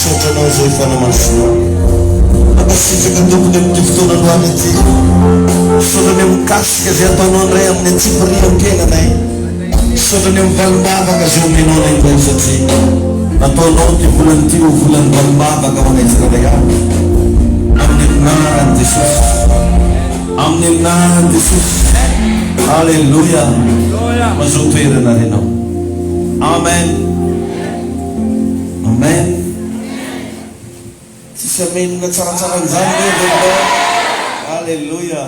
Misaotra anao izay fanamasinao. Mankasitraka tompoko amin'ity fotoana androany ity. Misaotra ny amin'ny kasika izay ataonao indray amin'ny antsipirihan-tenanay. Misaotra ny amin'ny valim-bavaka izay omenao anay indray satria nataonao ity volana ity ho volan'ny valim-bavaka ho anay tsirairay avy. Amin'ny anaran'i Jesosy. Amin'ny anaran'i Jesosy. Aleloia. Mazoto toerana ary ianao. Amen. Amen tsisy amenina tsaratsara an'izany ve ve ianao Aleloia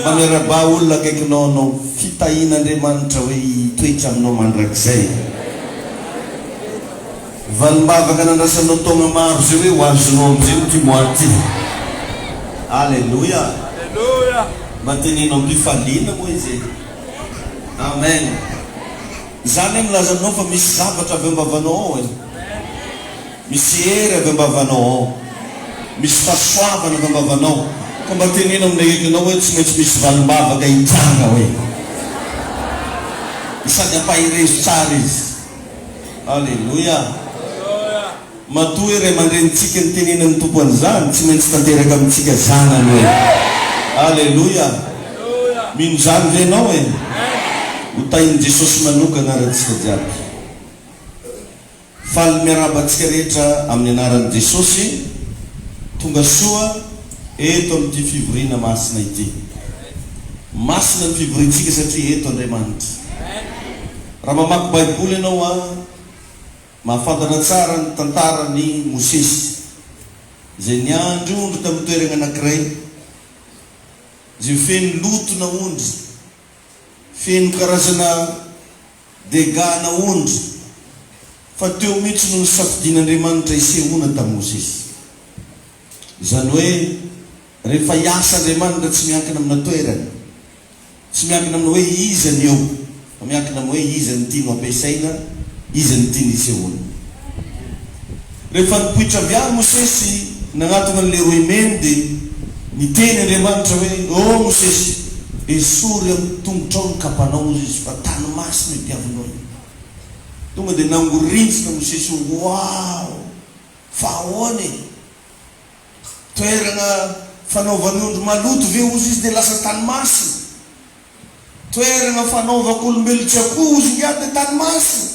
mba miaraba olona akaikinao anao fitahian'Andriamanitra hoe hitoetra aminao mandrakizay valimbavaka nandrasanao taogna maro zay hoe ho azonao amzay ity mois ty Aleloia mba teneno ampifaliana moa izy e Amen. Izany milaza aminao fa misy zavatra avy am-bavanao ao e! Misy hery avy am-bavanao ao. Misy fahasoavana avy am-bavanao. Ka mba teneno amin'ilay hidinao hoe tsy maintsy misy valim-bavaka hitranga hoe. Sady ampaherezo tsara izy. Aleloia! Matoa ry aman-drenintsika nitenenin'ny Tompo an'izany, tsy maintsy tanteraka amintsika zanany e! Aleloia! Mino izany ve ianao e? Ho tahin'i Jesosy manokana ary antsika jiaby. Faly miarahaba antsika rehetra amin'ny anaran'i Jesosy tonga soa eto amin'ity fivoriana masina ity. Masina ny fivoriantsika satria eto Andriamanitra. Raha mamaky Baiboly ianao a. Mahafantatra tsara ny tantaran' i Mosesy, izay niandry ondry tamin'ny toeragna anankiray, izay feno loto na ondry, feno karazana dégâts na ondry, fa teo mihitsy no nisafidian' Andriamanitra hisehoana tamin'i Mosesy. Izany hoe, rehefa hiasa Andriamanitra tsy miankina amina toerana. Tsy miankina amin'ny hoe iza ny eo, fa miankina amin'ny hoe iza ny tiany ho ampiasaina, iza ny tiany hisehoana. Rehefa nipoitra avy any Mosesy nanatona ny Leroy Men dia niteny Andriamanitra hoe, Ô Mosesy, esory amin'ny tongotrao ny kapanao, hoy Izy, fa tany masina itiavinao io. Tonga dia nangorintsina Mosesy hoe, Waoo! Fa ahoana e! Toerana fanaovany ondry maloto ve hozy izy dia lasa tany masina? Toerana fanaovako olombelona tsy akoho hozy ingahy dia tany masina?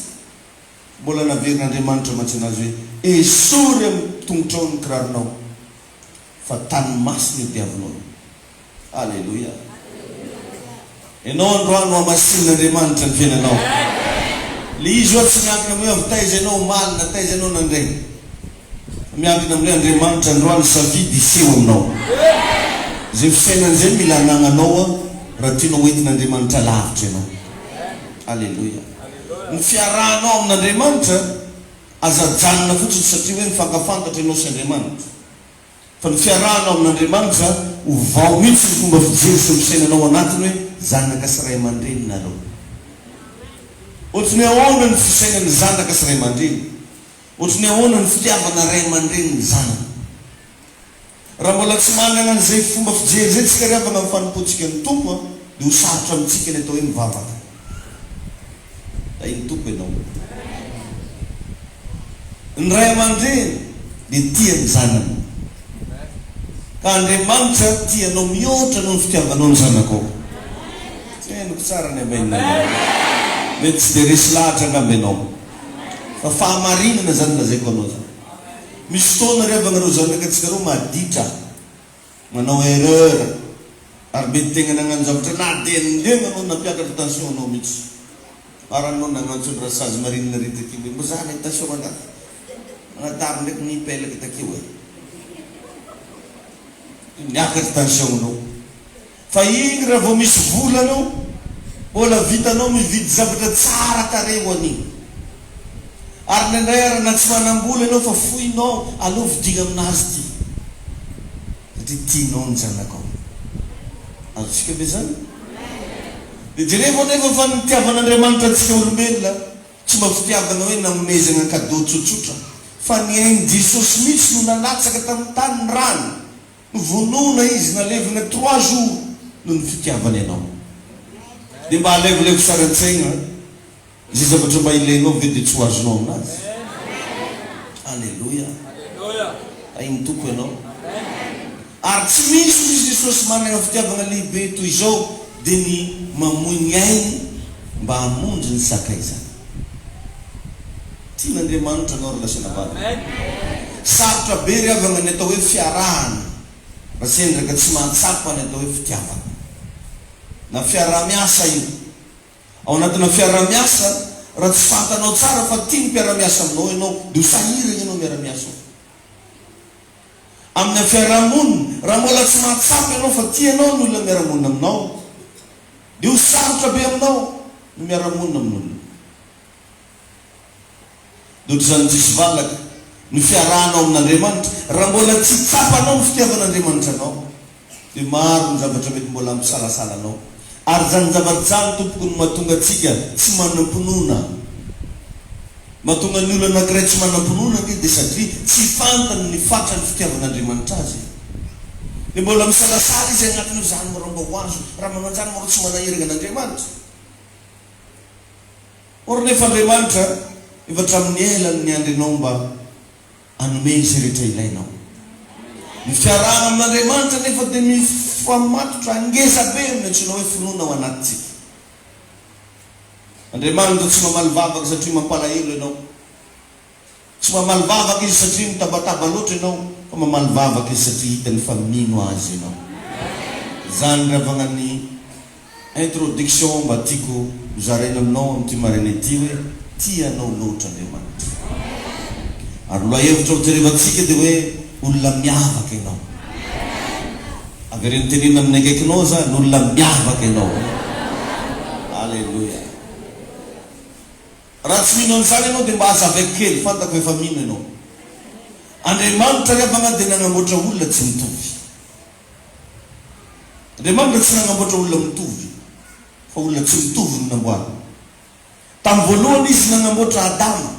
Mbola naverin'Andriamanitra mantsy anazy hoe, Esory amin'ny tongotrao ny kiraronao, fa tany masina io diavinao io. Aleloia. Ianao androany hohamasinin'Andriamanitra ny fiainanao. Ilay izy oa tsy miankina amin'ny hoe avy taiza ianao omaly na taiza ianao nandraina. Fa miankina amin'ny hoe Andriamanitra androany safidy hiseho aminao. Izay fisainana izay no mila anananao oa raha tianao ho entin'Andriamanitra lavitra ianao. Aleloia. Ny fiarahanao amin'Andriamanitra aza ajanona fotsiny satria hoe mifankafantatra ianao sy Andriamanitra. Fa ny fiarahanao amin'Andriamanitra ho vao mihitsy ny fomba fijery sy ny fisainanao ao anatiny hoe zanaka sy ray aman-dreny nareo. Ohatry ny ahoana ny fisainan'ny zanaka sy ray aman-dreny? Ohatry ny ahoana ny fitiavana ray aman-dreny ny zanany? Raha mbola tsy manana an'izay fomba fijery izay tsika ry havana amin'ny fanompoantsika ny Tompo dia ho sarotra amintsika ny atao hoe mivavaka. Hay ny Tompo ianao. Ny ray aman-dreny dia tia ny zanany. Ka Andriamanitra tia anao mihoatra noho ny fitiavanao ny zanakao. Tsy henoko tsara ny Amen anao. Mety tsy dia resy lahatra angamba ianao. Fa fahamarinana izany lazaiko anao izany. Misy fotoana ry havana ireo zanaka antsika ireo maditra. Manao erreur ary mety tegna nagnano zavatra na de ny lema no nampiakatra tension anao mitsy farany no nagnantso ny rasazy marine ry takibo hoe mba zahana i tension rangahy magnadaro ndraiky ny pelaka takeo e! miakatra tension nao. Fa iny raha vao misy vola no mbola vitanao mividy zavatra tsara tarehy ho an'iny. Ary indraindray ary na tsy manam-bola ianao fa foinao aleo vidiagna aminazy ity satria tianao ny zanakao. Azontsika ve izany? Dia jerevo anefa fa ny nitiavan'Andriamanitra antsika olombelona tsy mba fitiavana hoe nanomezagna cadeau tsotsotra fa ny ain'i Jesosy mihitsy no nalatsaka tamin'ny tany ny rany. Novonoina izy nalevina trois jours noho ny fitiavany anao dia mba alevolevo sary antsaigna izay zavatra mba ilainao ve dia tsy ho azonao aminazy Aleloia Hain'ny Tompo ianao Ary tsy misy hoy i Jesosy managna fitiavagna lehibe toy izao dia ny mamoy ny ainy mba hamonjy ny sakaizany. Tian'Andriamanitra anao ry lahy sy anabavy. Sarotra be ry havana ny atao hoe fiarahana raha sendra ka tsy mahatsapa ny atao hoe fitiavana. Na fiaraha-miasa io. Ao anatina fiaraha-miasa, raha tsy fantanao tsara fa tia ny mpiara-miasa aminao ianao, dia ho sahirana ianao miara-miasa ao. amina fiaraha-monina. Raha mbola tsy mahatsapa ianao fa tia anao ny olona miara-monina aminao, dia ho sarotra be aminao ny miara-monina amin'olona. Dia ohatr'izany diso valaka ny fiarahanao amin'Andriamanitra, raha mbola tsy tsapanao ny fitiavan'Andriamanitra anao. Dia maro ny zavatra mety mbola hampisalasala anao. Ary izany zavatra izany, tompoko, no mahatonga antsika tsy manam-pinoana. Mahatonga ny olona anankiray tsy manam-pinoana ange dia satria tsy fantany ny fatran'ny fitiavan'Andriamanitra azy. Dia mbola misalasala izy anatin'io izany moa raha mba ho azo. Raha manao an'izany moa ireo tsy manaherigna an'Andriamanitra. Or nefa Andriamanitra efa hatramin'ny ela no niandry anao mba. Hanome izay rehetra ilainao. Ny fiarahana amin'Andriamanitra anefa dia mifamatotra ngeza be amin'ny antsoina hoe finoana ao anatintsika. Andriamanitra tsy mamaly vavaka satria mampalahelo ianao. Tsy mamaly vavaka Izy satria mitabataba loatra ianao, fa mamaly vavaka Izy satria hitany fa mino Azy ianao. Izany ry havanan'ny. Introduction mba tiako hozaraina aminao amin'ity maraina ity hoe tia anao loatra Andriamanitra ary lohahevitrao jerevantsika dia hoe olona miavaka ianao avereno tenenina amin'ny akaikinao zany olona miavaka ianao Alléluia raha tsy mino an'izany ianao dia mba hazavaiko kely fantako efa mino ianao Andriamanitra ry havagna dia nanamboatra olona tsy mitovy Andriamanitra tsy nanamboatra olona mitovy, fa olona tsy mitovy no namboariny. Tamin'ny voalohany Izy nanamboatra Adama.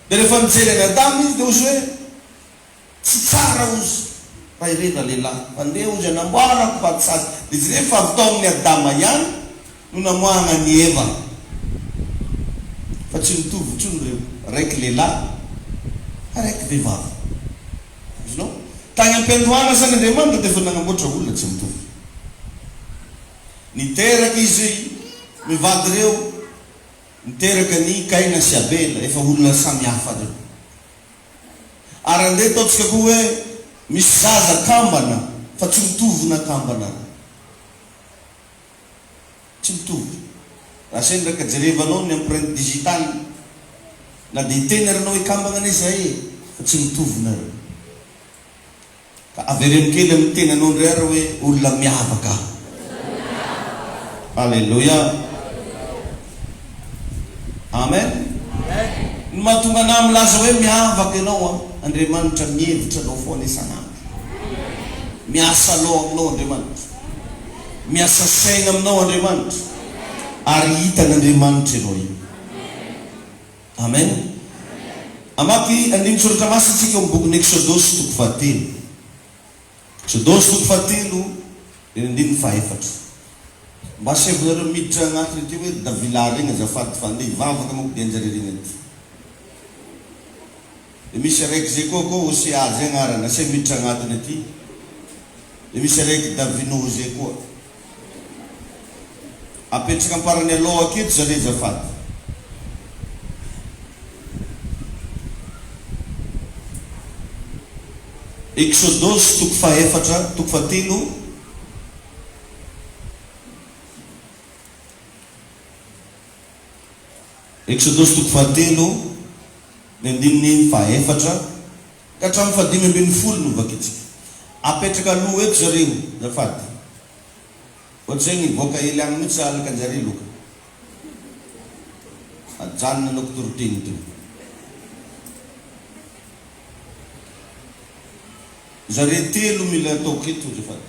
Dia rehefa nijery an'i Adama Izy dia hozy hoe, Tsy tsara hozy raha ireny ralehilahy, mandeha hozy anamboarako vadisady. Dia jereo fa avy tao amin'i Adama ihany. no namoahana an'i Eva, fa tsy nitovy intsony ireo, raiky lehilahy, ary raiky vehivavy. Azonao? Tany am-piandohana izany Andriamanitra dia efa nanamboatra olona tsy mitovy. Niteraka izy mivady ireo, niteraka an'i Kaina sy Abela, efa olona samy hafa ireo. Ary andeha ataontsika koa hoe misy zaza kambana, fa tsy mitovy na kambana ary. Tsy mitovy. Raha sendra ka jerevanao ny empreinte digitale, na dia hiteny ary ianao hoe kambana anie izahay e! fa tsy mitovy nareo. Ka avereno kely amin'ny tenanao indray ary hoe olona miavaka aho. Aleloia! Amen! Ny mahatonga anà milaza hoe miavaka ianao an, Andriamanitra mihevitra anao foana isan'andro. Miasa Loha aminao Andriamanitra. Miasa saina aminao Andriamanitra ary hitan' Andriamanitra ianao io. Amen. Hamaky andinin-tsoratra masina isika ao amin'ny bokin'ny Eksodosy toko fahatelo. Eksodosy toko fahatelo, eny andininy fahaefatra. Mba asevinareo miditra anatiny aty hoe ry Davilary regny azafady fa andeha hivavaka manko dia anjareo regny aty. Dia misy reg Zecoco Océa zay agnarany asia miditra agnatiny aty. Dia misy reg Davino José koa. Apetraka amparany aloha aketo zare zafady. Exodus toko fahefatra toko fahatelo Exodus toko fahatelo. Ny andininy fahaefatra ka hatramin'ny fahadimy ambin'ny folo no vakintsika. Apetraka aloha eto zareo zafady. Ohatr'izay nivoaka ely any mihitsy sahalaka njare loka. Ajanona anao kitoriteny teo. Zare telo mila ataoko eto zafady.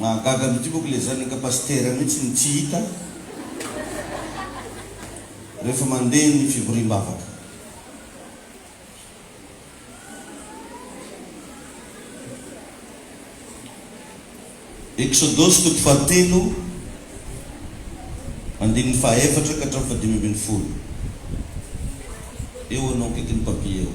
Mahagaga mity moko le zanaka pasitera mitsy no tsy hita refa mande ny fivoriambavaka. Eksodosy toko fahatelo andininy fahaefatra ka hatramin'ny fahadimy ambin'ny folo eo anao akaikin'ny papier ao.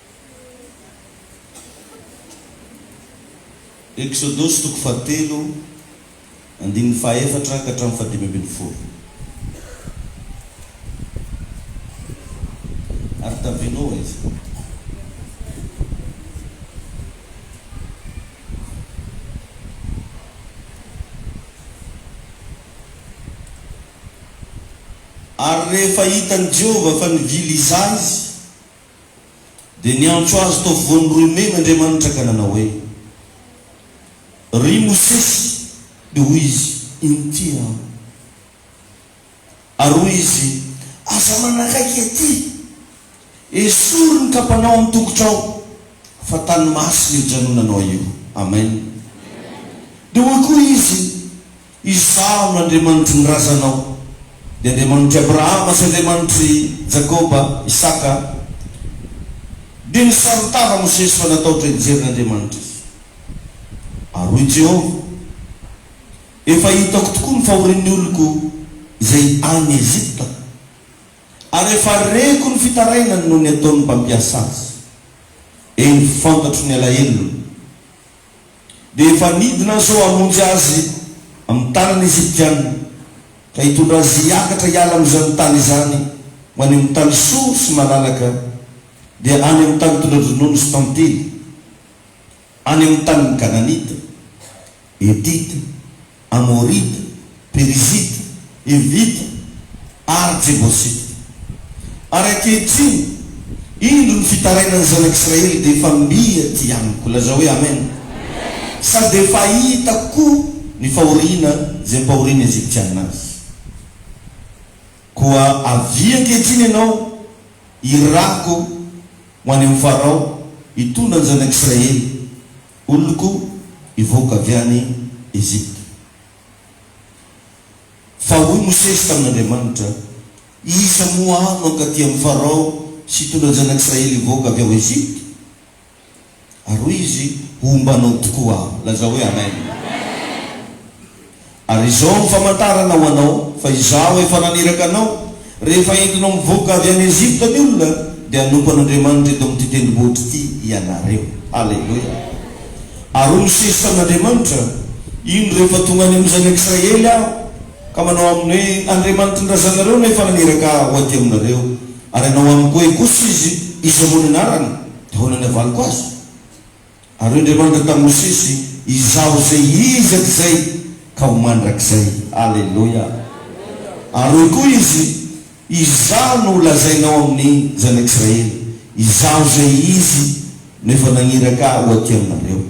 Eksodosy toko fahatelo andininy fahaefatra ka hatramin'ny fahadimy ambin'ny folo Ary tavy Noa izy. Ary rehefa hitan'i Jehovah fa nivily hizaha izy, dia niantso azy tao voan'ny roimena Andriamanitra ka nanao hoe, Ry Mosesy, dia hoy izy, Inty aho. Ary hoy izy, Aza manakaiky ety, esory ny kapanao amin'ny tongotrao, fa tany masina io janonanao io. Amen. Dia hoy koa izy. Izaho no Andriamanitry ny razanao, ny Andriamanitr'i Abrahama sy Andriamanitr'i Jakoba, Isaka. Dia nisaron-tava Mosesy fa natahotra hijery ny Andriamanitra izy. Ary hoy Jehovah, Efa hitako tokoa ny fahorian'ny oloko izay any Ejipta, ary efa reko ny fitarainany noho ny ataon'ny mpampiasa azy. Eny, fantatro ny alahelony. dia efa nidina zao hamonjy azy amin'ny tanana Egyptiana ka hitondra azy hiakatra hiala amin'izany tany izany ho any amin'ny tany soa sy malalaka dia any amin'ny tany tondra-dronono sy tantely, any amin'ny tanin'ny Kananita, Hetita, Amorita, Perizita, Hivita ary Jebosita. Ary ankehitriny, indro ny fitarainan'ny zanak'Israely dia efa mby aty amiko. Lazao hoe, Amen. Sady efa hitako koa ny fahoriana izay ampahorian'ny Egyptiana azy. Koa avia ankehitriny ianao, irako ho any amin'i Farao, hitondra ny zanak'Israely Oloko hivoaka avy any Egypta. Fa hoy Mosesy tamin'Andriamanitra, Iza moa aho no hankaty amin'i Farao sy hitondra ny zanak'Israely hivoaka avy ao Egypta? Ary hoy izy, Homba anao tokoa aho. Lazao hoe, Amen. Ary izao no famantarana ho anao fa Izaho efa naniraka anao, Rehefa entinao mivoaka avy any Egypta ny olona, dia hanompo an'Andriamanitra eto amin'ity tendrombohitra ity ianareo. Haleloia! Ary hoy Mosesy tamin'Andriamanitra, Indro rehefa tonga any amin'ny zanak'i Israely aho, ka manao aminy hoe, Andriamanitry ny razanareo no efa naniraka ahy ho aty aminareo, ary hanao amiko hoe kosa izy, Iza moa ny anarany? dia ahoana ny havaliko azy? Ary hoy Andriamanitra tamin'i Mosesy, Izaho izay Izy hatrizay ka ho mandrakizay. Aleloia! Ary hoy koa Izy, Izaho no holazainao amin'ny Zanak'Israely, Izaho izay Izy no efa naniraka Ahy ho aty aminareo.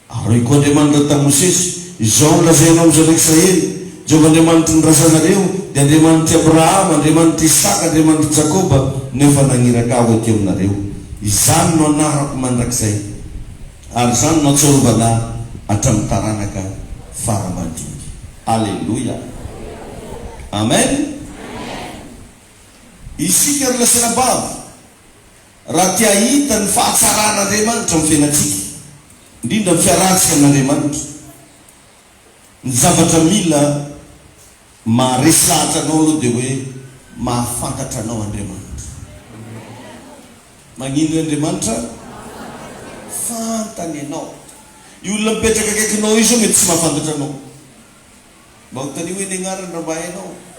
Ary hoy koa Andriamanitra tamin'i Mosesy, Izao no lazainao amin'ny Zanak'Israely, Jehovah Andriamanitry ny razanareo, dia Andriamanitr'i Abrahama, Andriamanitr'i Isaka, Andriamanitr'i Jakoba no efa naniraka ahy ho aty aminareo. Izany no anarako mandrakizay, ary izany no ahatsiarovana ahy hatramin'ny taranaka fara aman-drony. Aleloia! Amen! Isika ry lasanabavy, raha te hahita ny fahatsaran'Andriamanitra amin'ny fiainantsika, indrindra ny fiarahantsika amin'Andriamanitra, Ny zavatra mila maharesy lahatra anao aloha dia hoe mahafantatra anao Andriamanitra. Magnino hoe Andriamanitra fantany anao. Io olona mipetraka akaikinao io zao mety tsy mahafantatra anao. Mba ho tanio hoe ny agnarany raha mba hainao.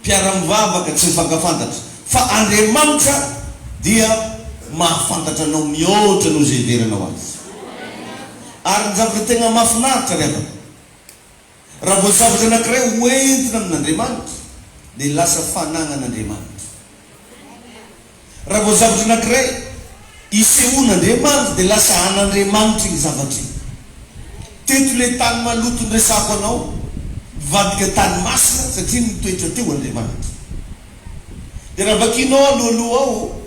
Mpiara-mivavaka tsy mifankafantatra, fa Andriamanitra dia mahafantatra anao mihoatra noho izay hiverenao Azy. Ary ny zavatra tegna mahafinaritra ry havana, raha vao zavatra anankiray hoentina amin'Andriamanitra, dia lasa fanagnan' Andriamanitra. Raha vao zavatra anankiray isehoan'Andriamanitra dia lasa an'Andriamanitra iny zavatra iny. Teto ilay tany maloto niresahako anao, nivadika tany masina satria nitoetra teo Andriamanitra. Dia raha vakianao alohaloha ao,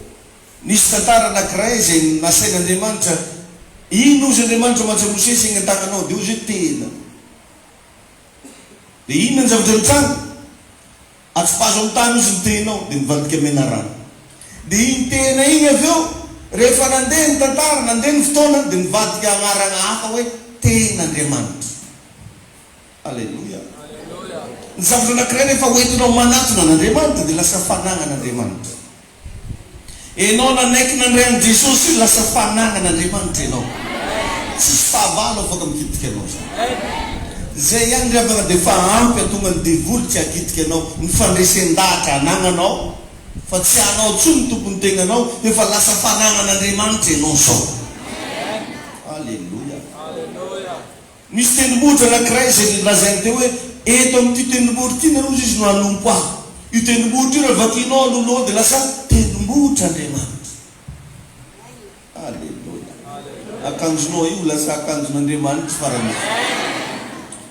nisy tantara anankiray izay nasain'Andriamanitra, iny hozy Andriamanitra mantsy an'i Mosesy eny an-tananao dia hozy hoe tena. Dia inona ny zavatra nitranga? Atsipazo amin'ny tany ozy ny tehinao dia mivadika mena rano. Dia iny tehina iny avy eo rehefa nandeha ny tantara, nandeha ny fotoana dia nivadika anarana hafa hoe tehin'Andriamanitra. Aleloia. Ny zavatra anankiray rehefa hoentinao manatona an'Andriamanitra dia lasa fananan'Andriamanitra. Enao nanaiky nandray an'i Jesosy io lasa fananan' Andriamanitra enao. Tsisy fahavalo afaka mikitika anao zany. Zay ihany ry havana de efa ampy atonga ny devoly tsy hakitika anao. Ny fandresen-dahatra anagnanao fa tsy anao tsony ny tompony tegnanao efa lasa fananan' Andriamanitra enao zao. Aleloia. Nisy tendrombohitra anankiray izay nolazainy teo hoe, Eto amin'ity tendrombohitra ity nareo izy no hanompo ahy. Io tendrombohitra io raha vakianao alohaloha dia lasa tendrombohitr'Andriamanitra. Aleloia! Akanjonao io ho lasa akanjon'Andriamanitra farany io.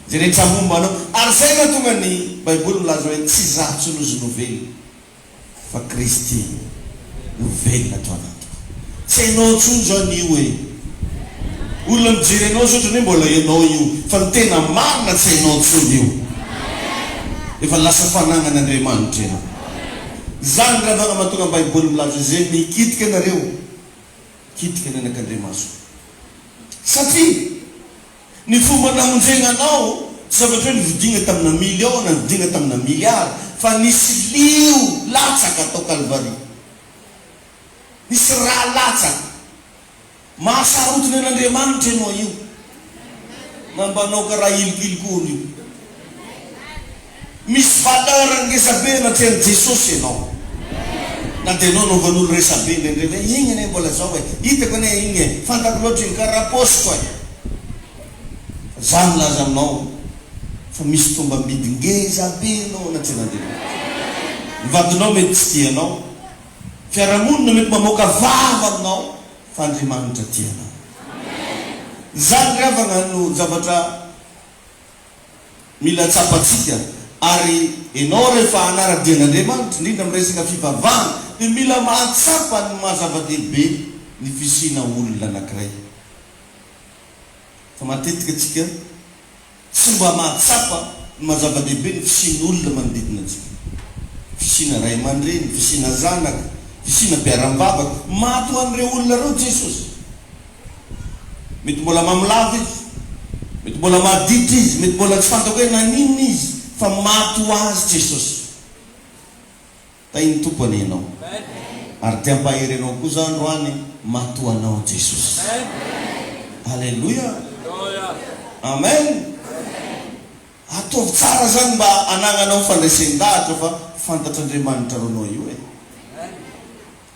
Izay rehetra momba anao. Ary izay no nahatonga ny Baiboly milaza hoe, Tsy izaho intsony hozy novelona. fa Kristy no velona ato anatiko. Tsy hainao intsony zao ny io e! Olona mijery anao zao otrany hoe mbola ianao io fa ny tena marina tsy hainao intsony io. Efa lasa fanagnan'Andriamanitra ianao. Zany ny ravagna mahatonga ny baiboly milaza zay mikitika anareo kitika ny anak'Andriamasoko satria. Ny fomba namonjegna anao, tsy zavatra hoe nividigna tamina million na nividigna tamina milliard, fa nisy lio latsaka tao Kalvary. Nisy rà latsaka. Maha sarotiny an'Andriamanitra ianao io, na mba anao karaha ilikoilikoana io. Misy valeur ngezabe anatreha an'i Jesosy ianao. Na dia ianao anaovan'olo resabe indraindray hoe igny anie mbola zao e, hitako anie igny e, fantako loatra igny, karaha paosiko e. Fa za milaza aminao fa misy tombam-bidy ngezabe anao anatrehan'Andriamanitra. Ny vadinao mety tsy tia anao, fiarahamonina mety mamoaka vava aminao, fa Andriamanitra tia anao. Izany ry havagna no zavatra. mila tsapantsika ary enao rehefa hanara-dia an'Andriamanitra indrindra amin'ny resaka fivavahana dia mila mahatsapa ny maha zava-dehibe ny fisiana olona anankiray fa matetika tsika tsy mba mahatsapa ny maha zava-dehibe ny fisian'ny olona manodidina antsika fisiana ray aman-dreny, fisiana zanaka, fisiana mpiara-mivavaka maty ho an'ireo olona ireo Jesosy. Mety mbola mamo lava izy. Mety mbola maditra izy. Mety mbola tsy fantako hoe naninona izy, fa maty ho azy Jesosy. Tahin'ny Tompo anie ianao. Ary te hampahery anao koa za androany, maty ho anao Jesosy. Aleloia. Amen. Ataovy tsara zany mba anagnanao fandresen-dahatra fa fantatr'Andriamanitra anao io e.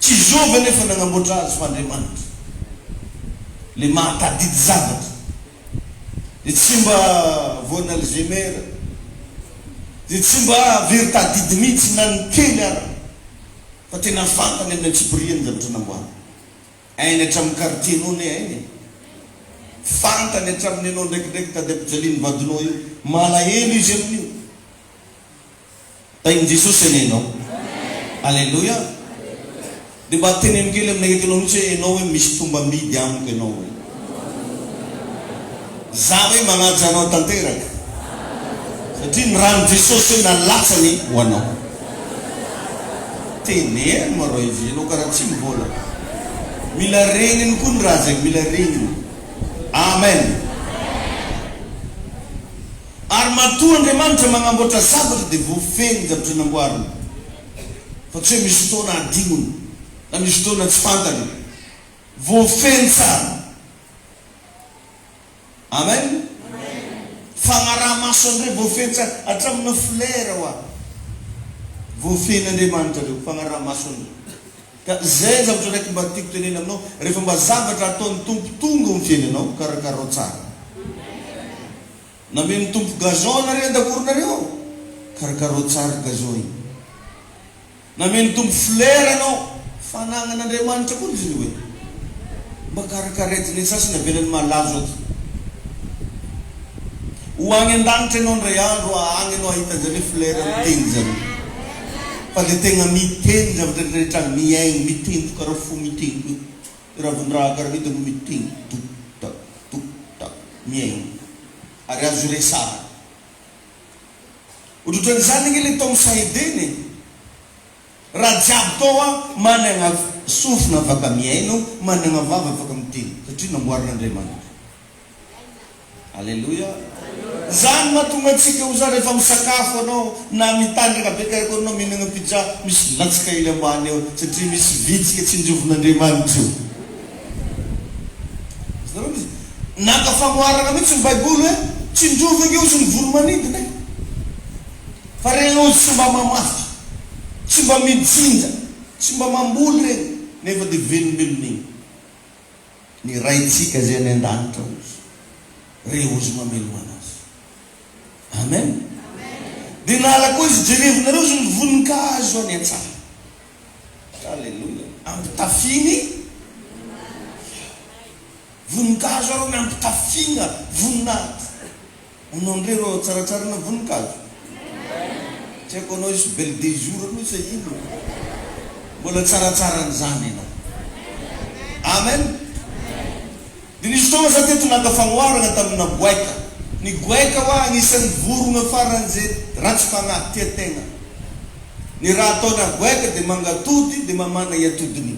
Tsy zovy anefa nagnamboatra azy fa Andriamanitra, le mahatadidy zavatra, de tsy mba voan' Alzheimer, de tsy mba very tadidy mihitsy na ny kely ara, fa tena fantany amin'ny antsipiriany ny zavatra namboariny. Hainy hatramin'ny quartier-nao ne hainy e! Fantany hatramin'ny anao ndraikindraiky tady am-pijalian'ny vadinao io, malahelo izy amin'io. Tahin'i Jesosy anie ianao. Aleloia. Dia mba teneno kely amin'ilay entinao mihitsy hoe ianao hoe misy tombamidy amiko ianao hoe. Izaho hoe manaja anao tanteraka. Satria ny ran'i Jesosy hoe nalatsany ho anao. Teneno ma Royvi, ianao karaha tsy mivola. Mila reniny koa ny raha zay, mila reniny. Amen. Ary matoa Andriamanitra magnamboatra zavatra dia voafehy ny zavatra namboariny, fa tsy hoe misy fotoana adinony na misy fotoana tsy fantany. Voafehiny tsara. Amen. Fagnaraha-maso andre voafehiny tsara hatramina flera hoa. Voafehin'Andriamanitra reo fagnaraha-maso andre. Ka zay ny zavatra raiky mba tiako tenena aminao, rehefa mba zavatra ataon'ny Tompo tonga ao amin'ny fiainanao, karakarao tsara. Namen'ny Tompo gazon anareo an-dakoronareo ao, karakarao tsara ry gazon e! Namen'ny Tompo fleurs anao, fanagnan'Andriamanitra koa izy io e! Mba karakareto ny sasany avelany malazo ato. Ho any an-danitra ianao indray andro a, any ianao hahita an'izany hoe fleurs miteny izany. Fa dia tegna miteny ny zavatra rehetra, mihaino, miteny, tokaraho fo miteny koa. Ravondrahagaridy no miteny tok tak tok tak mihaino ary azo iresahana. Ohatran'izany ange le tao am Sahedena e! Raha jiaby tao a managna sofina afaka mihaino, managna vava afaka miteny satria namboarin'Andriamanitra. Aleloia! Izany mahatonga antsika ho za rehefa misakafo anao na mitandraka be karakory anao mihinagna pizza misy latsaka hely ambany eo satria misy vitsika tsinjovin'Andriamanitra io. Azonareo misy naka fanoharana mihitsy ny baiboly hoe tsinjovy ange ozy ny voly manidina e! Fa reny ozy tsy mba mamafy, tsy mba mijinja, tsy mba mamboly reny nefa dia velombelona iny. ny Raintsika izay any an-danitra ozy re ozy mamelomana azy. Amen. Dia nala koa izy jerevinareo izy ny voninkazo any an-tsaha. Aleloia. Ampitafiany voninkazo ary ny ampitafiana voninahitra. Ono ndry rô tsaratsarana voninkazo. Tsy haiko anao hisy belle de jour anao sa inona fa mbola tsaratsaran'izany ianao. Amen. Dia nisy fotoana za teto naka fanoharana tamina goaika. Ny goaika hoa anisan'ny vorogna faran'ze ratsy fagnahy tia tegna. Ny raha ataona goaika dia mangatody dia mamana i atodiny.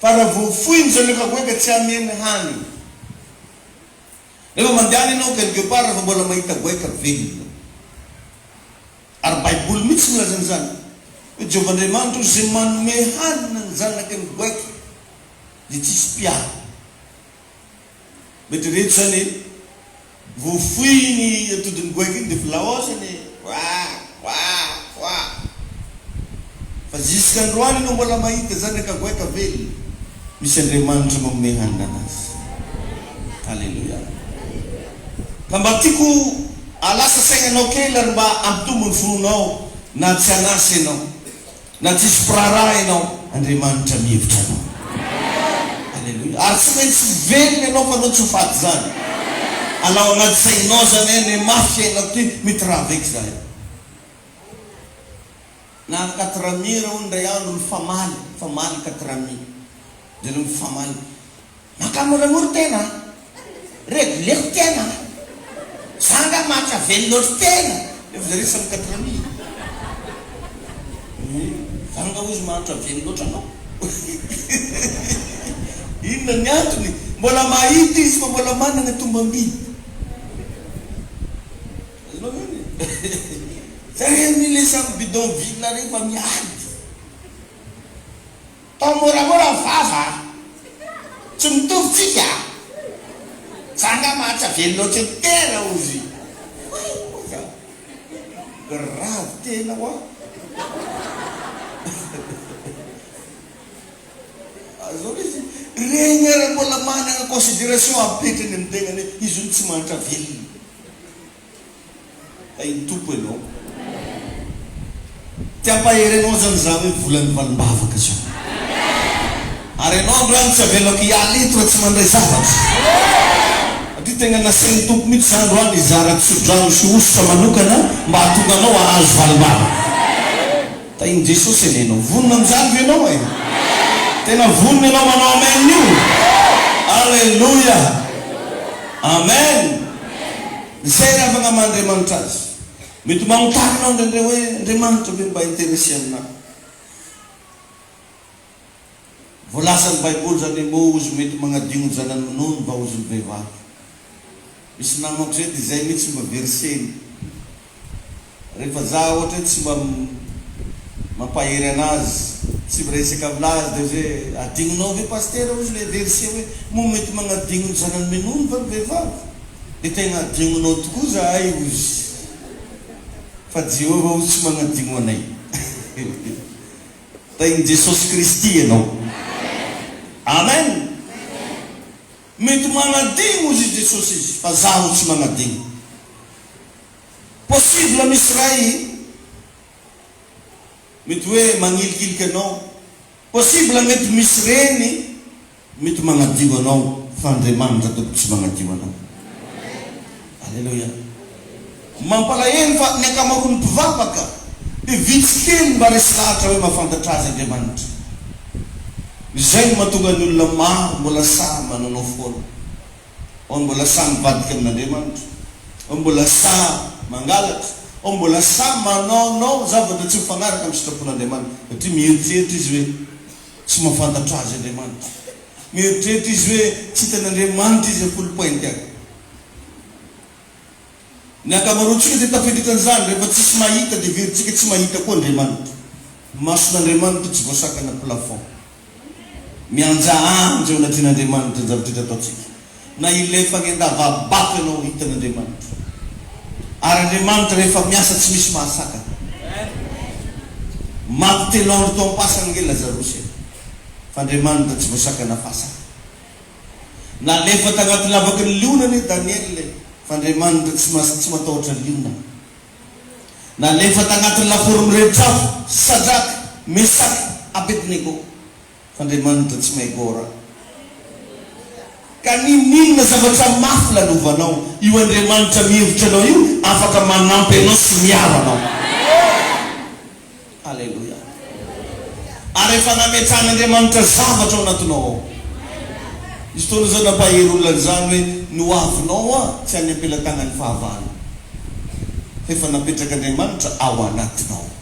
Fa raha voafoiny zany efa goaika tsy hameno hanigny. Rehefa mandehana ianao Ken Guepard rehefa mbola mahita goaika velona. Ary baiboly mihitsy no milaza an'izany. Hoy Jehovah Andriamanitra, Izay manome hanina ny zanaky ny goaika dia tsy hisy mpiaro. Mba eritrereto izany e! Vao foy iny atodin'ny goaika iny dia filao ao izany e! Oaah! Voaa! Voaa! Fa zisk'androany no mbola mahita zanaka goaika velona. Misy Andriamanitra manome hanina anazy. Aleloia. Ka mba tiako halasa saina anao kely ary mba hampitombo ny finoanao na tsy hanasa ianao. Na tsisy mpiraharaha ianao, Andriamanitra mihevitra anao. Aleloia. Ary tsy maintsy velona ianao fa anao tsy ho faty izany. Alao anaty sainao izany hoe anie mafy fiainako ity, mety rava eky izahay. Na quatre mire hono indray andro mifamaly, mifamaly quatre mire. Jereo mifamaly. Makà moramora tena a! Redy lefo tena a! Za angaha mahatsy avelo loatra tena! Dia vous avez cinq quatre amis ee! Za angaha hozy mahantra avelo loatra anao! Inona ny antony? Mbola mahita izy fa mbola manana tombam-by. Azonao zany e! Jereo anie ilay samy bidonville rehefa miady! Tao moramora ny vava a! Tsy mitovy tsika a! Za nga mahatsa velona ohatry ny tera ozy! Oay oa za! Grave tena oa! Zao lesy regny ara mbola managna consideration apetrany am tegnany hoe izy io tsy mahantra velona. Hay ny Tompo ianao. Te hampahery anao izany izaho hoe volan'ny valim-bavaka izao. Ary ianao androany tsy avelako hiala eto raha tsy mandray zavatra. Satria tegna nasain'ny Tompo mihitsy izaho androany hizara tso-drano sy hosotra manokana mba hahatonga anao hahazo valim-bavaka. Tahin'i Jesosy anie ianao. Vonona amin'izany ve ianao e? Tena vonona ianao manao amen io? Aleloia! Amen! Izay ry havana ama Andriamanitra azy. Mety ho manontany ianao indraindray hoe, Andriamanitra ve mba intéressé aminà? Voalazan'ny Baiboly izany hoe moa ozy mety magnadigno ny zanany minono va ozy ny vehivavy. Misy namako izay dia izay mihitsy mba verseny. Rehefa za ohatra hoe tsy mba mampahery anazy, tsy miresaka amin'azy dia ozy hoe adigninao ve Pasitera ozy ilay verse hoe moa mety magnadigno ny zanany minono va ny vehivavy? Dia tegna adigninao tokoa zahay ozy fa Jehovah ozy tsy magnadigno anay. Renin'i Jesosy Kristy ianao. Amen! Mety manadigno ozy i Jesosy izy fa zaho tsy manadigno. Possible misy iray mety hoe magnilikiliky anao. Possible mety misy reny. Mety magnadio anao fa Andriamanitra tompoko tsy magnadio anao. Aleloia. Mampalahelo fa ny ankamaroan'ny mpivavaka dia vitsy kely mba resy lahatra hoe mahafantatra azy Andriamanitra. Izay no mahatonga ny olona maro mbola sahy manaonao foana. Ao ny mbola sahy mivadika amin'Andriamanitra, ao ny mbola sahy mangalatra, ao ny mbola sahy manaonao zavatra tsy mifagnaraka amin'ny sitrapon'Andriamanitra satria mieritreritra izy hoe, Tsy mahafantatra Azy Andriamanitra. Mieritreritra izy hoe tsy hitan'Andriamanitra izy am-polopainty any. Ny ankamaroantsika dia tafiditra an'izany, rehefa tsisy mahita dia heverintsika tsy mahita koa Andriamanitra. Mason'Andriamanitra tsy voasakana plafond. Mihanjahanjy eo anatrehan'Andriamanitra ny zava-drehetra ataontsika. na ilay fanendavabako ianao hitan' Andriamanitra. Ary Andriamanitra rehefa miasa tsy misy mahasakana. Maty telo andro tao am-pasana ange Lazarosy e! Fa Andriamanitra tsy voasakana fasana. Nalefa tagnaty lavaky ny liona anie Daniela e! Fa Andriamanitra tsy mas tsy matahotra liona. Nalefa tagnaty ny lafaoro mirebitr'afo Sadraka, Mesaka, Abednego. Fandriamanitra tsy may gora. Ka ninoninona zavatra mafy lalovanao, io Andriamanitra mihevitra anao io afaka manampy anao sy miaro anao. Aleloia. Ary efa nametrahan'Andriamanitra zavatra ao anatinao ao. Nisy fotoana zao nampahery olona an'izany hoe ny ho avinao hoa tsy any am-pelatagnan'ny fahavalo. Fa efa napetrak'Andriamanitra ao anatinao.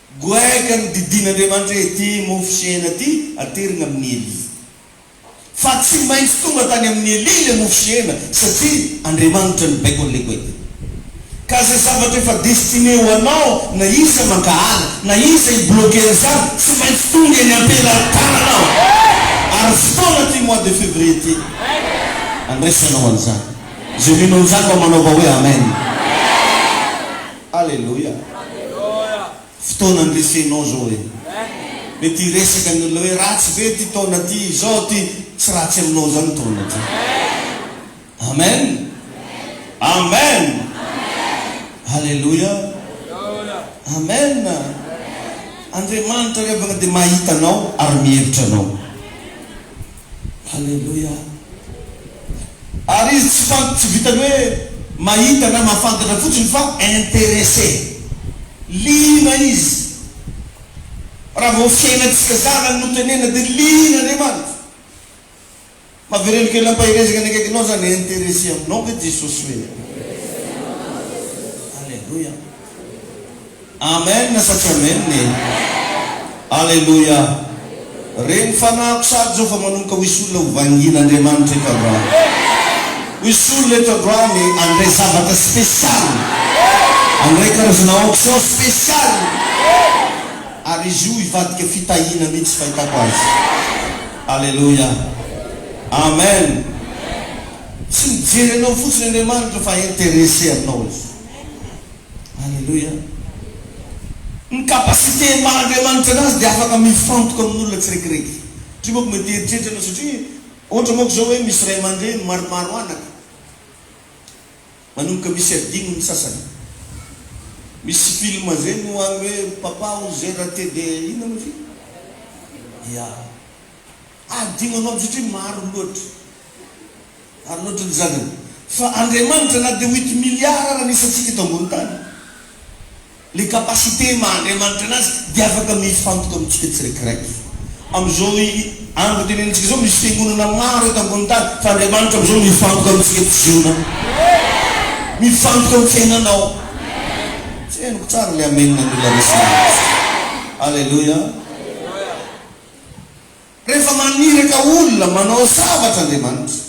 Goay ka ny didin'Andriamanitra ety mofo sy hena ty aterina amin'i Elia. Fa tsy maintsy tonga tany amin'i Elia le mofo sy hena satria Andriamanitra no baiko an'le goay ty. Ka ze zavatra efa destiné ho anao na iza mankahala na iza i bloquer an'izany tsy maintsy tonga eny am-pelan-tananao. Ary fotoana ty mois de février ty andraisanao an'izany. Ze mino an'izany mba manaova hoe Amen. Aleloia! Fotoana andresenao zao e! Mety hiresaka ny olona hoe ratsy ve ty taona ty izao ty tsy ratsy aminao zany taona ty! Amen! Amen! Aleloia! Amen! Andriamanitra ry havana dia mahita anao ary mihevitra anao. Aleloia! Ary izy tsy fant tsy vitan'ny hoe mahita na mahafantatra fotsiny fa interesse. Liana izy. Raha vao fiainantsika zanany no tenenina dia liana Andriamanitra. Mavereno kely ampaherezaka ny akaikinao zany interesse aminao ve Jesosy hoe? Aleloia! Amen sa tsy amen e! Aleloia! Reny fanahiko sary zao fa manomboka ho is'olona ho vangin' Andriamanitra eto androany. Ho is'olona eto androany handray zavatra spécial, handray karazana onction spécial, ary izy io hivadika fitahiana mihitsy fahitako azy. Aleloia! Amen! Tsy mijery anao fotsiny Andriamanitra fa intéressé aminao Izy. Aleloia! Ny capacité maha Andriamanitra anazy dia afaka mifantoka amin' ny olona tsiraikiraiky. Satria manko mety hieritreritra ianao, satria ohatra manko izao hoe misy ray aman-dreny maromaro anaka, manomboka misy adino ny sasany. Misy film izay no any hoe papa où j'ai rate de inona moa izy io? Ya. Adino anao satria maro loatra. Maro loatra ny zanany. Fa Andriamanitra na dia huit milliards ara ny isantsika eto ambony tany, le capacité maha Andriamanitra anazy dia afaka mifantoka amintsika tsiraikiraiky. Amin'izao andro itenenintsika izao misy fiangonana maro eto ambony tany fa Andriamanitra amin'izao mifantoka amintsika tsy zonao. Mifantoka amin'ny fiainanao. Tsy henoko tsara le amen an'olona resy mihitsy. Alléluia. Rehefa maniraka olona manao zavatra Andriamanitra,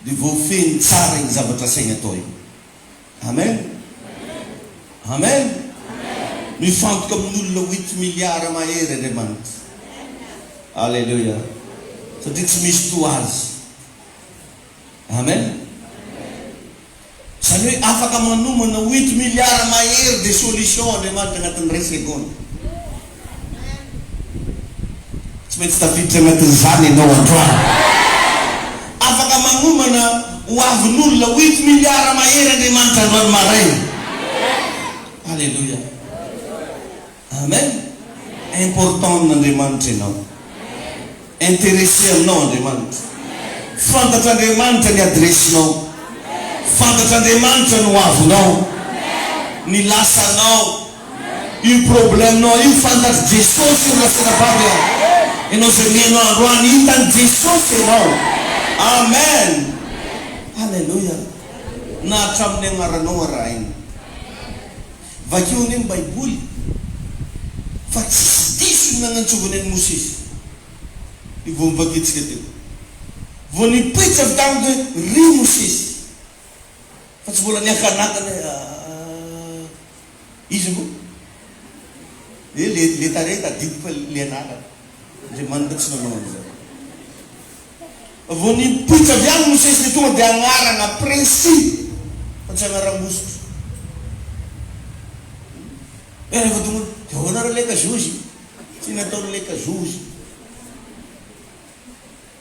dia voafehiny tsara iny zavatra asainy atao iny. Amen! Amen! Mifantoka amin'olona oito miliara mahery Andriamanitra. Aleloia! Satria tsy misy toa Azy. Amen! Izany hoe afaka manomana oito milliards mahery de solutions Andriamanitra anatin'ny ray segona. Tsy maintsy tafiditra anatin'izany ianao androany. Afaka manomana ho avin'olona oito milliards mahery Andriamanitra androany maraina. Aleloia! Amen! Important amin'Andriamanitra ianao. Interesse aminao Andriamanitra. Fantatr'Andriamanitra ny adiresinao. Fantatr'Andriamanitra ny hoavinao. Ny lasanao. Io problemnao io fantatr'i Jesosy io Rasenabavy a! Ianao izay mihaino ahy androany, hitan'i Jesosy ianao. Amen! Alléluia! Na hatramin'ny agnaranao arahina. Vakio anie ny baiboly fa tsisy diso ny nanantsovany an'i Mosesy io vao novakiantsika teo. Vao nipoitra avy tamiko hoe ry Mosesy fa tsy mbola niakanakana hoe aah iza moa e le le tarehy tadidiko fa le anarany. Andriamanitra tsy nanao an'izany. Vao nipoitra avy any Mosesy dia tonga dia anarana précis fa tsy anaram-bositra. Dia rehefa tonga hoe, dia ahoana re leka zozy? Tsy nataony leka zozy.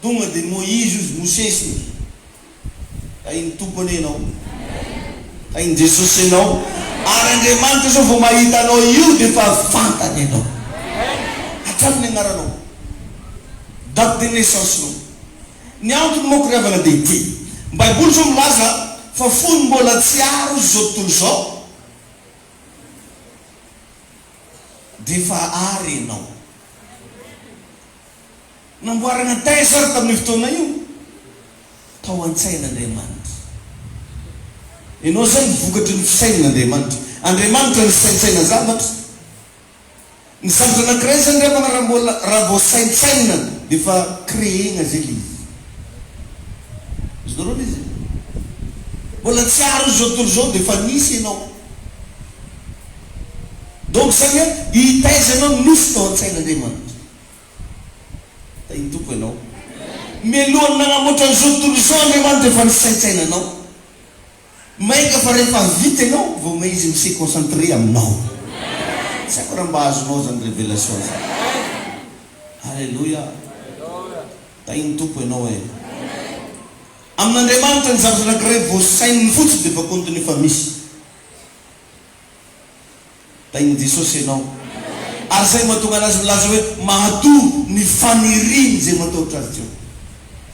Tonga dia Moizy ozy, Mosesy ozy. Hain'ny Tompo anie ianao. Hain'i Jesosy ianao. Ary Andriamanitra sao vao mahita anao io dia efa fantany ianao. Hatrany ny agnaranao. Date de naissance nao. Ny antony manko ry havana dia ity. Ny Baiboly sao milaza fa fony mbola tsy aro izy izao tontolo izao dia efa ary ianao. Namboarina thèse ary tamin'io fotoana io tao an-tsain'Andriamanitra. Ianao izao no vokatry ny fisainan'Andriamanitra. Andriamanitra no saintsaina zavatra. Ny zavatra anankiray izany ravana raha mbola, raha vao saintsaina dia efa créer-na izay ilay izy. Azonareo an'izy e? Mbola tsy ary izao tontolo izao dia efa nisy ianao. Donc izany hoe i thèse ianao nisy tao an-tsain'Andriamanitra. Tahitoko ianao. Mialohan'ny nanamboatra an'izao tontolo izao Andriamanitra efa nisaintsaina anao. Mainka fa rehefa vita ianao vao may izy mi se concentrer aminao. Tsy haiko raha mba azonao izany révélation izany. Alléluia. Tahin'ny Tompo ianao e. Amin'Andriamanitra ny zavatra anankiray voasaininy fotsiny dia efa compte-ny efa misy. Tahin'i Jesosy ianao. Ary izay no mahatonga anazy milaza hoe mahatoa ny faniriany izay matahotra azy Jehovah.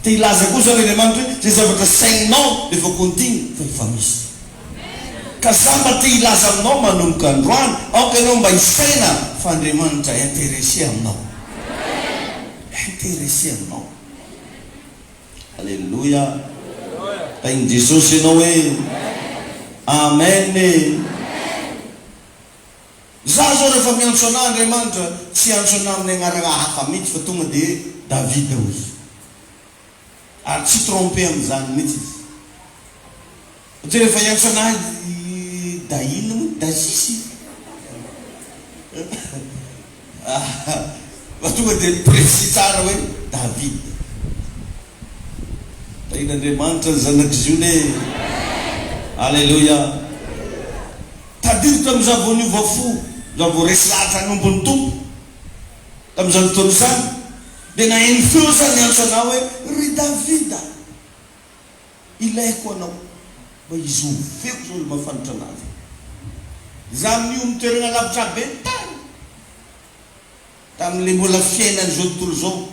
Te hilaza koa izany Andriamanitra hoe izay zavatra saininao dia efa kontiana fa efa misy. Ka za mba te hilaza aminao manomboka androany, aoka ianao mba hisaina fa Andriamanitra intéressé aminao. Intéressé aminao. Aleloia! Tahin'i Jesosy ianao e! Amen e! Izaho izao rehefa miantso an'Ahy Andriamanitra, tsy hiantso an'Ahy amin'ny anarana hafa mihitsy fa tonga dia hoe Davida hoy Izy. Ary tsy tromper amin'izany mihitsy Izy. Mijery vahiny fanahy Dahin moa Daisy fa tonga dia précis tsara hoe David Tahin'Andriamanitra ny zanak'i Ziona e! Aleloia! Tadidiko tamin'izaho vao niova fo, izaho vao resy lahatra hanompo ny Tompo, tamin'izany fotoana izany, dia naheno feo izaho niantso anao hoe, Ry David a! Ilaiko anao mba hizoro feo izao ilay mafanitra an'avy e! Izaho amin'io amin'ny toerana lavitra be ny tany, tamin'ilay mbola fiainana izao tontolo izao,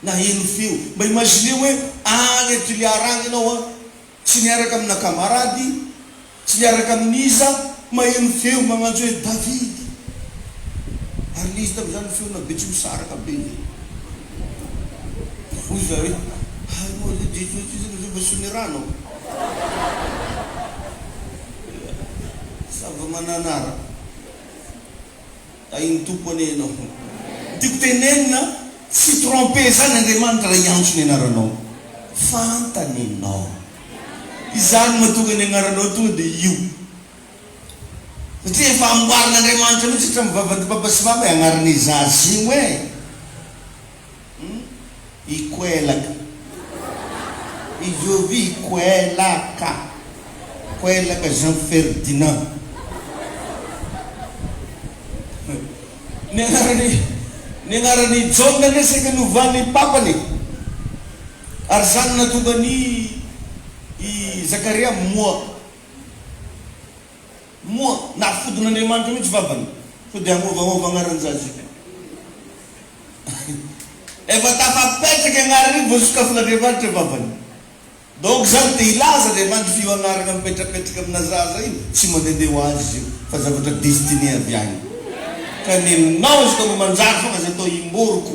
naheno feo. Mba imagineo hoe any Toliara any ianao an, tsy niaraka amina kamarady, Tsy niaraka amin'iza maheno ny feo magnanjo hoe Davida? Ary n'iza tamin'izany ny feona be tsy misaraka be ve? Hoy izaho hoe, Ary moa ve Jesosy izy no Jehovah sy ny rano? Zava-mananara. Tahin'ny Tompo anie ianao. Ny tiako tenenina, tsy tromper izany Andriamanitra raha hiantso ny anaranao. Fantany ianao. Izaho no mahatonga ny agnaranao tonga dia io. Satria efa amboarin'Andriamanitra mihitsy hatramin'ny vavan'ny Papa sy Mama e agnarana i Zaza io e! Hum i Koelaka. I Jovy i Koelaka. Koelaka Jean Ferdinand. Ny agnaran'i ny agnaran'i Jaona anie saika novan'ny Papany e! Ary izany nahatonga an' i Zakaria moa, moa, nahafodin' Andriamanitra mihitsy vavany, sao dia hanovahova anaran' Jazika. Efa tafapetraka anarana iny vao sokafinan' Andriamanitra vavany. Donc izany dia hilaza Andriamanitra fa io anarana mipetrapetraka amina zaza io tsy mandehandeha ho azy io fa zavatra destiné avy any. Ka nenao izy ka mba manjary foana izay atao imboriko.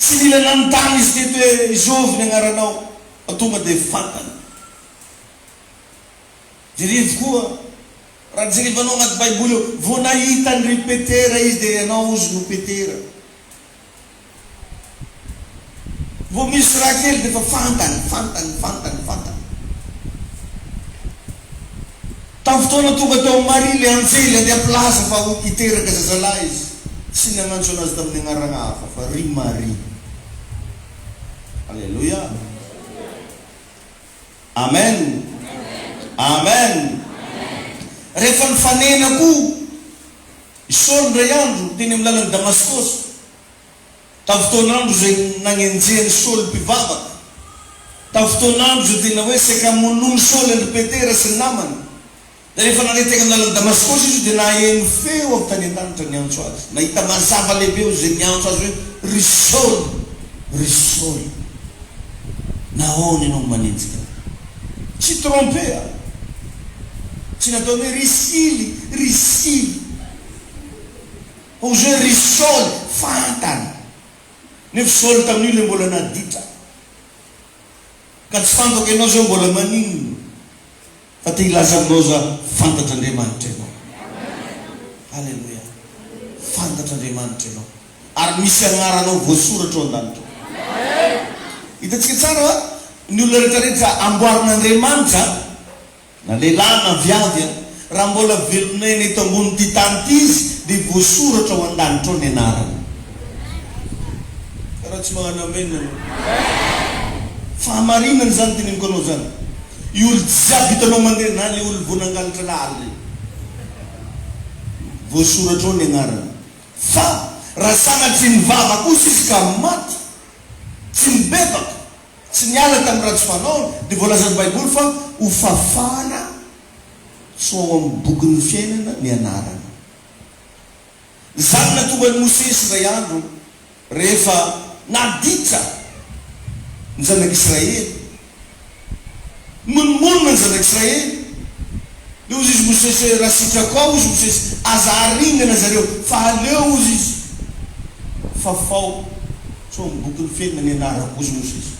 Tsy nila nanontany izy teto hoe izovy ny agnaranao fa tonga dia fantany. Jirivo koa, raha jirivanao agnaty baiboly ao, vao nahita an ry Petera izy dia ianao ozy no Petera. Vao misy raha kely dia efa fantany, fantany, fantany, fantany. Tamin'ny fotoana tonga tao amin'i Maria ilay anjely handeha hampilaza fa ho hiteraka zazalahy izy, tsy nanantso anazy tamin'ny anarana hafa fa ry Maria. Aleloia! Amen! Amen! Rehefa nifanena koa i Saoly indray andro teny amin'ny lalan'i Damaskosy. Tamin'ny fotoan'andro izay nagnenjehan'i Saoly mpivavaka, tamin'ny fotoan'andro izay tena hoe saika hamonoan'i Saoly an-dry Petera sy ny namany, dia rehefa nandeha teny amin'ny lalan'i Damaskosy izy dia naheno feo avy tany an-danitra niantso azy. Nahita mazava lehibe eo izay niantso azy hoe, Ry Saoly! Ry Saoly! Nahoana ianao no manenjika ahy? Tsy trompe a! Tsy nataony hoe, Ry Sily! Ry Sily! Hoy izy hoe, Ry Saoly, fantany, nefa Saoly tamin'io ilay mbola naditra, ka tsy fantako ianao izao mbola maninona, fa te hilaza aminao za, fantatr'Andriamanitra ianao. Aleloia. Fantatr'Andriamanitra ianao, ary misy agnaranao voasoratra ao an-danitra ao. Hitantsika tsara va? Ny olona rehetra rehetra amboarin'Andriamanitra. Na lehilahy na viavy an! Raha mbola velon'aina eto ambonin'ity tany ity izy dia voasoratra ao an-danitra ao ny anarany. Ka raha tsy magnano amen ianao. Fahamarinana izany teneniko anao izany. Io olo jiaby hitanao mandeha na le olo vao nangalatra lahaly reny. Voasoratra ao ny agnarany. Fa raha sanatria nivava kosa izy ka maty, tsy nibebaka, Tsy niala tamin'ny ratsy fanaony, dia voalazan'ny Baiboly fa hofafana tsy ho ao amin'ny bokin'ny fiainana ny anarany. Izany no nahatonga an'i Mosesy indray andro, rehefa naditra ny zanak'Israely, Monomonona ny zanak'Israely. Dia hozy izy Mosesy, Raha sitrako ao, hozy Mosesy, aza haringana zareo, fa aleo, hozy izy, fafao, sao amin'ny bokin'ny felona ny anarako, hozy Mosesy.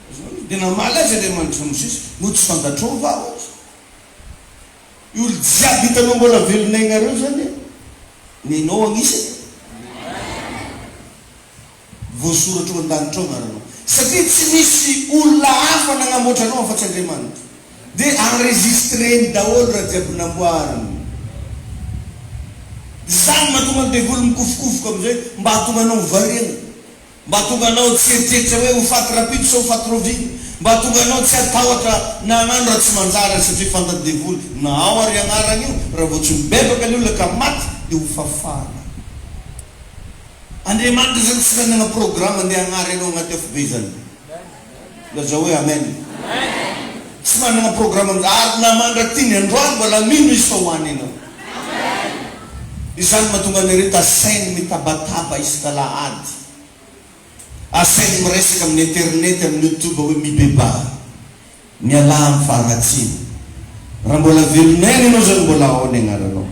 Azonao? Dia namaly azy Andriamanitra, Mosesy, moa tsy fantatrao va, hozy, io olo jiaby hitanao mbola velona aignareo zany, nenao agnisany? voasoratra eo an-danitra ao angaranao. Satria tsy misy olona hafa nanamboatra anao afa-tsy Andriamanitra. Dia enregistreny daholo raha jiaby namboariny. Izany no mahatonga ny devoly mikofokofoka amin'izay mba hahatonga anao ho variana. Mba hahatonga anao tsy hieritreritra hoe ho faty rapito sa ho faty raoviana. Mba hahatonga anao tsy hatahotra na hagnano raha tsy manjary aza satria fantan'ny devoly na ao ary agnarana io raha vao tsy mibebaka ny olona ka maty dia ho fafana. Andriamanitra izany tsy nanana programa andeha hagnary anao agnaty afo be zany. Lazao hoe Amen. Tsy manana programa an'izany. Ary na mandrak'ity androany mbola mino izy fa ho any ianao. Izany mahatonga an'ireto asainy mitabataba isak'alahady. Asainy miresaka amin'ny internet, amin'ny youtube hoe mibebaha. Mialà amin'ny faharatsiana. Raha mbola velon'aina ianao izao dia mbola ao ny agnaranao.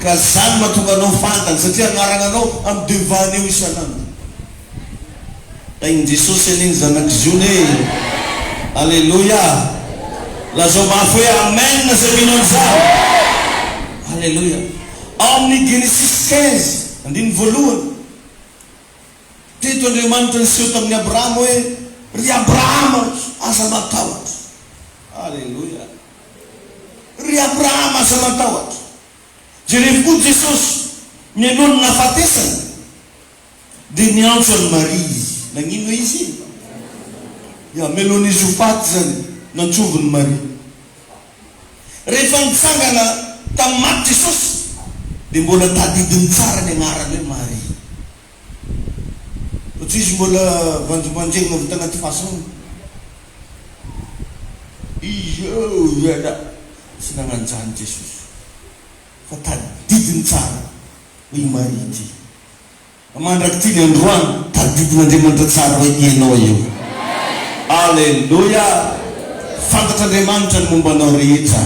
Ka izany no mahatonga anao fantany satria agnaragnanao amin'ny devant eo isan'andro. Tahin'i Jesosy anie ny zanak'i Ziona e! Aleloia! Lazao mafy hoe Amen izay mino an'izany. Aleloia! Ao amin'ny Genesisy quinze, andininy voalohany. Teto Andriamanitra niseho tamin'i Abrahama hoe, Ry Abrahama, aza matahotra. Aleloia. Ry Abrahama, aza matahotra. Jerevo koa Jesosy, mialoha ny nahafatesany, dia niantso an'i Maria Izy. Nagnino hoe Izy? Ya, mialohan'Izy ho faty izany, nantsovin'i Maria. Rehefa nitsangana tamin'ny maty Jesosy, dia mbola tadidiny tsara ny agnarany hoe Maria. Fa tsisy mbola vanjimbanjegna avy tagnaty fahasaha izao ialahy tsy nagnano zany Jesosy fa tadidiny tsara hoe i Maria ity fa mandraky ty ny androany tadidin'Andriamanitra tsara hoe ianao io Aleloia fantatr'Andriamanitra ny momba anao rehetra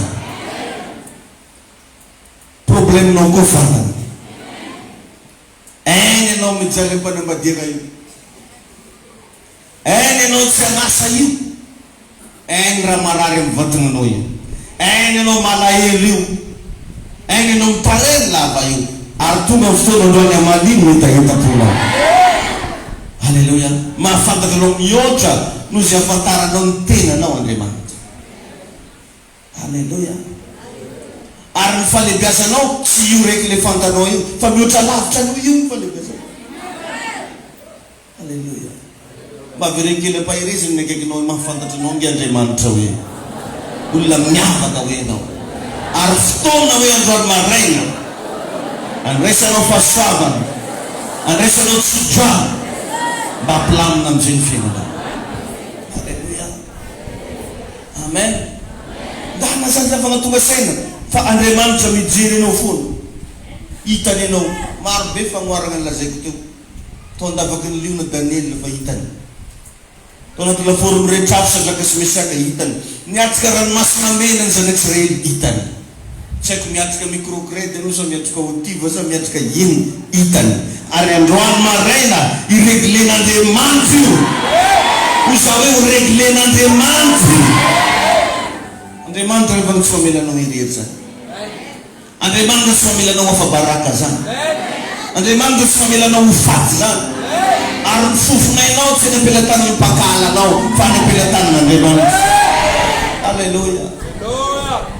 problemnao koa fantany. Ein ianao mijaly ampanambadiana io Ein ianao tsy an'asa io Ein raha marary amin'ny vatananao io Ein ianao malahelo io Ein ianao mitareny lava io Ary tonga ny fotoana androany hamalino hetahetam-ponao Alléluia Mahafantatra anao mihoatra noho izay ahafantaranao ny tenanao Andriamanitra. Aleloia! Ary ny falebiazanao tsy io rek le fantanao io fa mihoatra lavitra an'io io ny falebiazanao. Aleloia! Mba avereno kely ampaherezany ny akaikinao hoe mahafantatra anao nge Andriamanitra hoe olona miavaka hoe ianao. Ary fotoana hoe androany maraina andraisanao fahasoavana, andraisanao tsodrano mba hampilamina amin'izay ny fiainanao. Aleloia! Amen! Ndana izany havana tonga saina fa Andriamanitra mijery anao foana. Hitany anao. Maro be fanoharana nolazaiko teo. Tao an-davaky ny liona Daniela efa hitany. Tao anaty lafaoro miretrafy Sadraka sy Mesaka hitany. Niatrika ranomasina mena ny zanak'Israely hitany. Tsy haiko miatrika microcred anao sa miatrika auti va sa miatrika inn hitany ary androany maraina ireglen'Andriamanitra io hoy za hoe ho reglen'Andriamanitra io Andriamanitra ve vao tsy mamela anao irery zany Andriamanitra tsy mamela anao afa-baraka zany Andriamanitra tsy mamela anao ho faty zany ary ny fofonainao tsy any am-pelatanan'ny mpakahala anao fa any am-pelatanan'Andriamanitra Aleloia.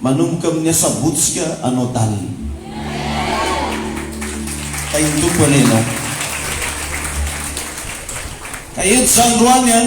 Manomboka amin'ny asabotsy ska anao dally. Tahin'ny Tompo anie ianao. Ka eto izany roany an!